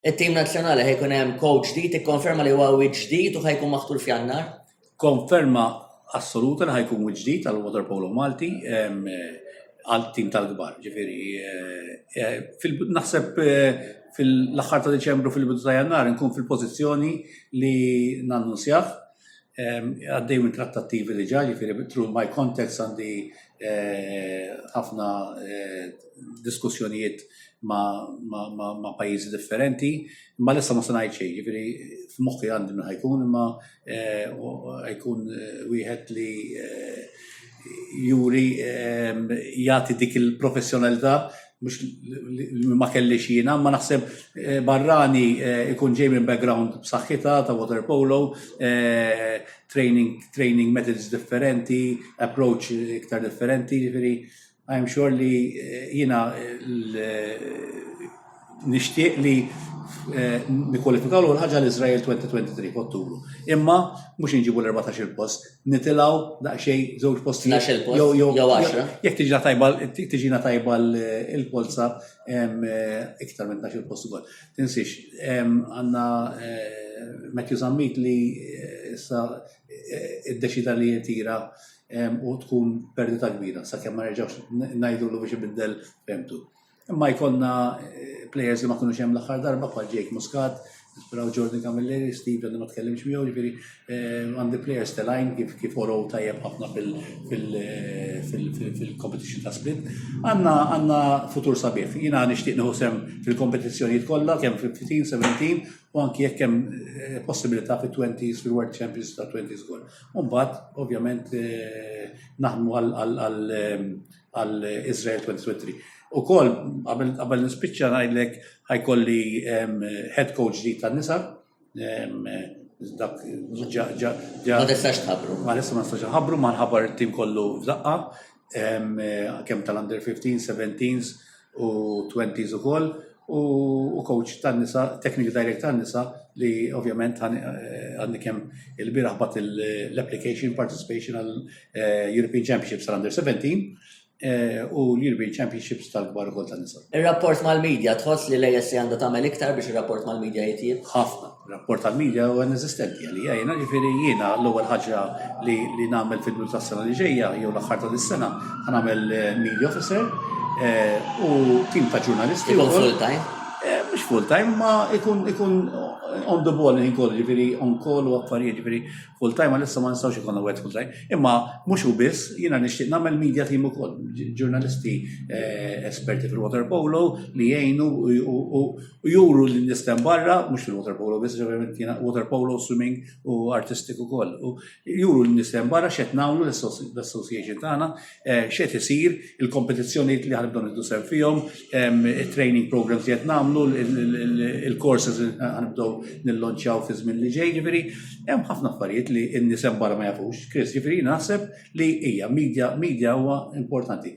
It-tim nazzjonali ħa jkun hemm kowċ ġdid ikkonferma li huwa wiċċ ġdid u ħa jkun maħtur f'Jannar. Konferma assoluta li ħa jkun wiċċ ġdid għal waterpolo Malti għal tim tal-kbar, ġifiri. Eh, eh, naħseb eh, fil-axħar ta' Deċembru fil-bidu ta' Jannar nkun fil-pozizjoni li nannunzjah. għaddej minn trattattivi li ġa, ġifiri bitru my context għandi eh, ħafna eh, diskussjonijiet ma' pajizi differenti, ma l-issa ma sanajt xej, ġifiri f'moħħi għandi minn ħajkun, ma eh, ħajkun wieħed li juri jati dik il-professjonalità mux ma kellix jina, ma naħseb eh, barrani eh, ikun ġej minn background b'saħħita ta' water polo, eh, training, training methods differenti, approach iktar differenti, ġifiri, I'm sure li jina nishtiq li nikwalifikaw l-ħagġa l-Izrael 2023 f'Ottubru. Imma mux nġibu l-14 post nitilaw daqxej żewġ posti. Nax il-post, jew għaxra. Jek tiġina tajba, tiġina tajba l-polza eh, iktar minn nax il-post ukoll. Tinsix, għanna eh, Matthew Zammit li eh, issa id-deċida li jtira u tkun perdita kbira, sa' kemm ma nerġawx najdu l biex ibiddel femtu. Imma jkollna eh, players li ma kunux hemm l-aħħar darba bħal Jake Muscat, Spraw Jordan Camilleri, Steve li ma tkellimx miegħu, ġifieri eh, għandi players telajn kif kif orow tajjeb ħafna fil-competition eh, ta' split. Għandna għandna futur sabiħ. Jiena nixtieq nieħu sem fil-kompetizzjonijiet kollha kemm fil-15, 17 u anki jekk hemm possibilità fit-20s fil-World Champions ta' 20s gol. Mbagħad ovvjament naħdmu għal għal Israel 2023. U kol, għabel nispicċa najlek ħajkolli head coach di ta' nisa. Dak, ġa, ġa, ġa. Ma nistax tħabru. Ma nistax ma nistax tħabru, ma nħabar tim kollu f'daqqa, kem tal-under 15, 17, u 20s ukoll u coach tan-nisa, technical direct tan-nisa li ovvjament eh, għandi kemm il-biraħ bat l-application participation għal eh, European Championships tal-Under 17 eh, u l-European Championships tal-kbar ukoll tan-nisa. Ir-rapport mal-medja tħoss li l-ASC għandha tagħmel iktar biex ir-rapport mal-medja jitjieb? Ħafna. Rapport tal-media huwa inesistenti għalija jiena, ġifieri jiena l-ewwel ħaġa li li nagħmel fil-bidu tas-sena li ġejja jew l-aħħar ta' dis-sena ħa nagħmel eh, media officer eh, u tim ta' ġurnalisti. Ikun full time? Eh, mhux full time, ma ikun ikun on the ball in kollu, ġifieri on call u affarijiet ġifieri full time għalissa ma nistgħux ikun wet full time. Imma mhux u biss, jiena nixtieq nagħmel media team ukoll, ġurnalisti esperti fil-water polo li jgħinu u u juru li nistem barra, mux il-water polo, biss ġeverament kiena water polo, swimming u artistik u koll. U juru li nistem barra xet namlu l-association tagħna, eh, xet isir, il-kompetizzjoni li ħanibdu niddu sem fihom, il-training programs li qed namlu, il-courses li ħanibdu nillonċaw fi żmien li ġej, ġifieri, hemm ħafna affarijiet li n-nisem barra ma jafux, Chris, ġifieri naħseb li hija media, media huwa importanti.